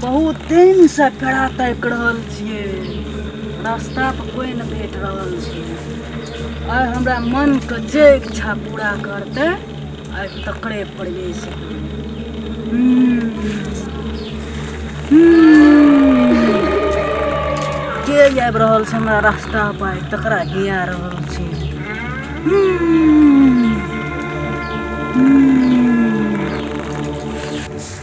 बहुत दिन से कड़ा ताकि रहल छिए रास्ता पर कोई न भेट रहल छै आइ हमरा मन के जे इच्छा पूरा करते आइ तकरे प्रवेश के आबि रहल छै हमरा रास्ता पर तकरा गिया रहल छै हम्म।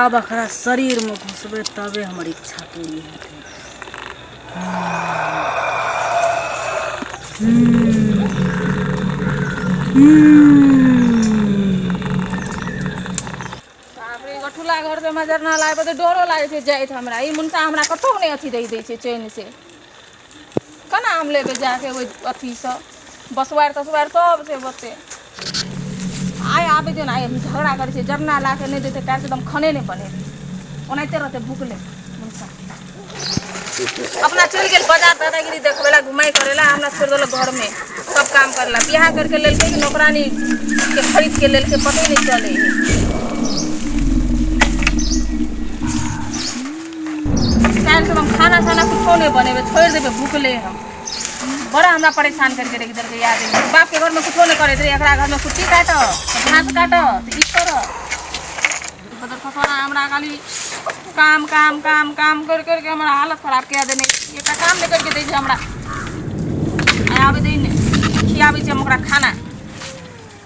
आब एकरा शरीरमे घुसबै तबे हमर इच्छा पूरी हेतै बापरे गठुला घर से मजर ना लागे तो डरो लागे छै जाइत हमरा ई मुनका हमरा कतौ नहि अथी रहि दै छै चैन से केना आम लेबै जा कऽ ओहि अथीसँ बसबारि तसबारि सभ छै ओते आइ आबै छै ने आइ झगड़ा करै छै जरना ला कऽ नहि देतै काल्हि एकदम खाने नहि बनेतै ओनाहिते रहतै भुखले अपना चलि गेल बाजार दादागिरी देखबै लए घुमाइ करै लए हमरा छोड़ि देलक घरमे सब काम करै लए बियाह करिके लेलकै कि नौकरानी के खरीद के लेलकै पते नहि चलै काल्हि से हम खाना साना कुछो नहीं बनेबे छोड़ देबे भूखले हम बड़ा हमरा परेशान करके रख देलकै याद बाप के घर में कुछो नहीं करैत रहे एकरा घर में कुट्टी काट घास काट तऽ ई कर बदर फसवाना हमरा खाली काम काम काम काम कर करके हमरा हालत खराब कए देने एकटा काम नहि करके दै छै हमरा आ आबै दै नहि खियाबै छै हम ओकरा खाना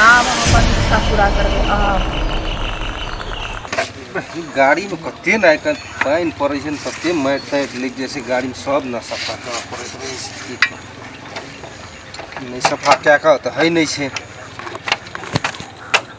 आब हम अपन इच्छा पूरा करबै आब गाड़ीमे कते ने आइ काल्हि पानि पड़ै छै ने तते मारि तारि लागि जाइ छै गाड़ीमे सब ने सफा करऽ पड़ैत रहै छै की कहू। नहि सफा कए कऽ तऽ होइ नहि छै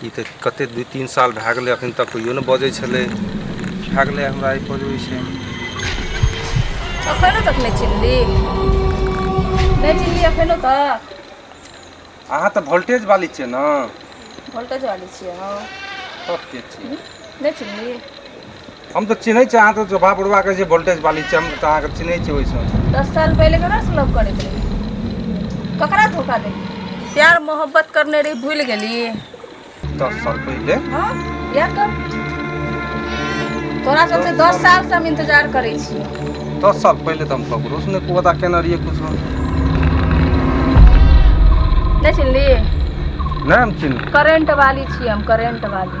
ई तऽ कते दू तीन साल भए गेलै अखन तक कहियो नहि बजै छलै भए गेलै हमरा ई पर होइ छै अखनो तक नहि चिन्हली नहि चिन्हली अखनो तक अहाँ तऽ वोल्टेज वाली छियै ने वोल्टेज वाली छियै हँ तब के छियै नहि चिन्हली हम तऽ चिन्है छियै अहाँ तऽ स्वभाव बुढ़वा कहै छियै वोल्टेज वाली छियै हम तऽ अहाँके चिन्है छियै ओहिसँ दस साल पहिले ककरा से लव करैत रही ककरा धोखा दे प्यार मोहब्बत करने रही भूल गेली दस साल पहिले हाँ याद कर तोरा सबसे दस साल से हम इंतजार करै छी दस साल पहिले तऽ हम ककरो से नहि पता केने रहियै कुछो नहीं चिन्हली नहीं हम चिन्ह करंट वाली छी हम करंट वाली